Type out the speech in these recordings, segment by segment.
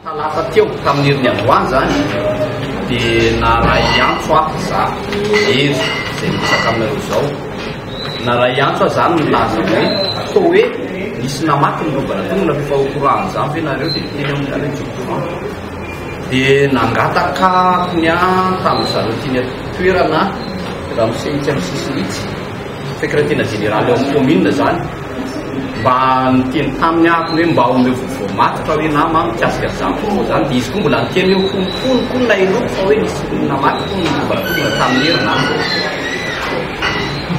Talata teo, tamin'ny herin'ny androany izany, dia naharay antso aho izaho, Hery, izay miresaka aminareo izao. Naharay antso aho izany nilaza hoe, toa hoe nisy namaky ny lobana teo, mbola efa au courant an'izany ve nareo dia teny amin'ny nareo tsy au courant. Dia nangataka aho ny ahy tamin'izareo teny an-toerana, ramose itsy amin'ny sisiny itsy, Sekretera jeneraly ao amin'ny kaominina izany mba niteny taminy aho hoe mba omeo vaovao matotra hoe nama an, mikasika an'izany fotoana izany. Dia izy koa mbola niteny hoe hono hono koa ny naheloako fa hoe nisy olona namaky hono ny vovan-tolona tamin'ny herinandro aho.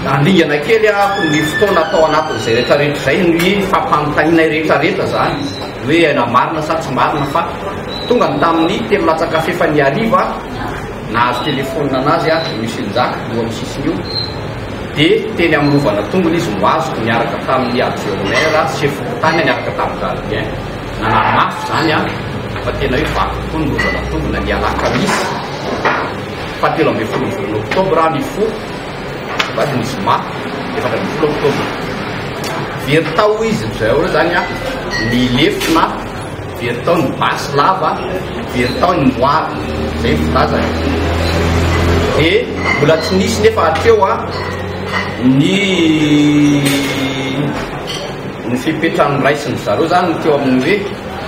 Nandringana kely aho ny fotoana tao anatin'izay rehetrarehetra izay no hoe fampanontanianay rehetrarehetra izany hoe aina marina sa tsy marina fa tonga ny tamin'ny telo latsaka f'efa ny hariva aho Nahazo telefonina anazy aho, i Monsieur Njaka, io amin'ny sisiny io, dia teny amin'ny rovana tongony izy no azoko niaraka tamin'ny adjourneur sy chef-fokontany niaraka tamin'ny gardien. Nanara-maso izany aho fa tena hoe vaky tokoa ny rovana tongony na ny alakamisy faha telo ambin'ny folon'ny volana oktobra aho nifoha, va dia ny zoma efatra ambin'ny folo oktobra. Very tao hoy izy, ry zareo izany aho, ny lefona Very tao ny basy lava, very tao ny moara. Izay no filazany. Dia mbola tsy nisy nefa hatreo ny ny fepetra noraisin'ny zareo izany no teo amin'ny hoe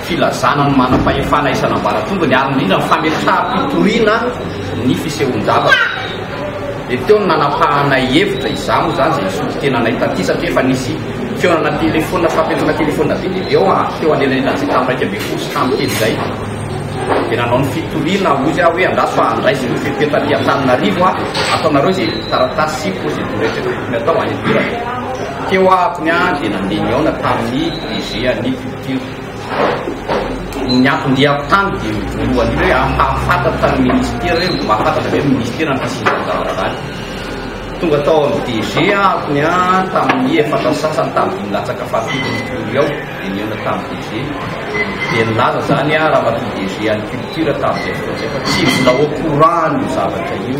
filazana ny manam-pahefana isan'ambaratombony ary indrindra ny fametraham-pitoriana ny fisehoan-javatra. Dia teo ny nanapahanay hevitra izaho izany izay nisolo tenanay taty satria efa nisy Fihaonana telefona, fampiantsoana telefona be dia be ao an, teo anelanelan'ny gazety tamin'ny iraika ambin'ny folo sy tamin'ny telo izay. Dia nanao ny fitoriana hoy izy aho hoe andraso fa handraisy ny fepetra aty Antananarivo aho, ataonareo izay taratasy sy procédure rehetra tokony atao any an-toerana. Teo aho akony an, dia nandeha nihaona tamin'ny DG an'ny culture. Ny anton-diako tany dia voalohany hoe ampahafantatra ny ministera hoe mahafantatra ve ny ministera ny fisian'izany zava-draharaha izany. Tonga tao amin'ny DG aho ny an tamin'ny efatra ny sasany tamin'ny latsaka fahafito ny Curie ao dia nihaona tamin'ny DG dia nilaza izany an ramatoa DG an'ny culture tamin'izay fotoana izay fa tsy mbola au courant an'io zavatra io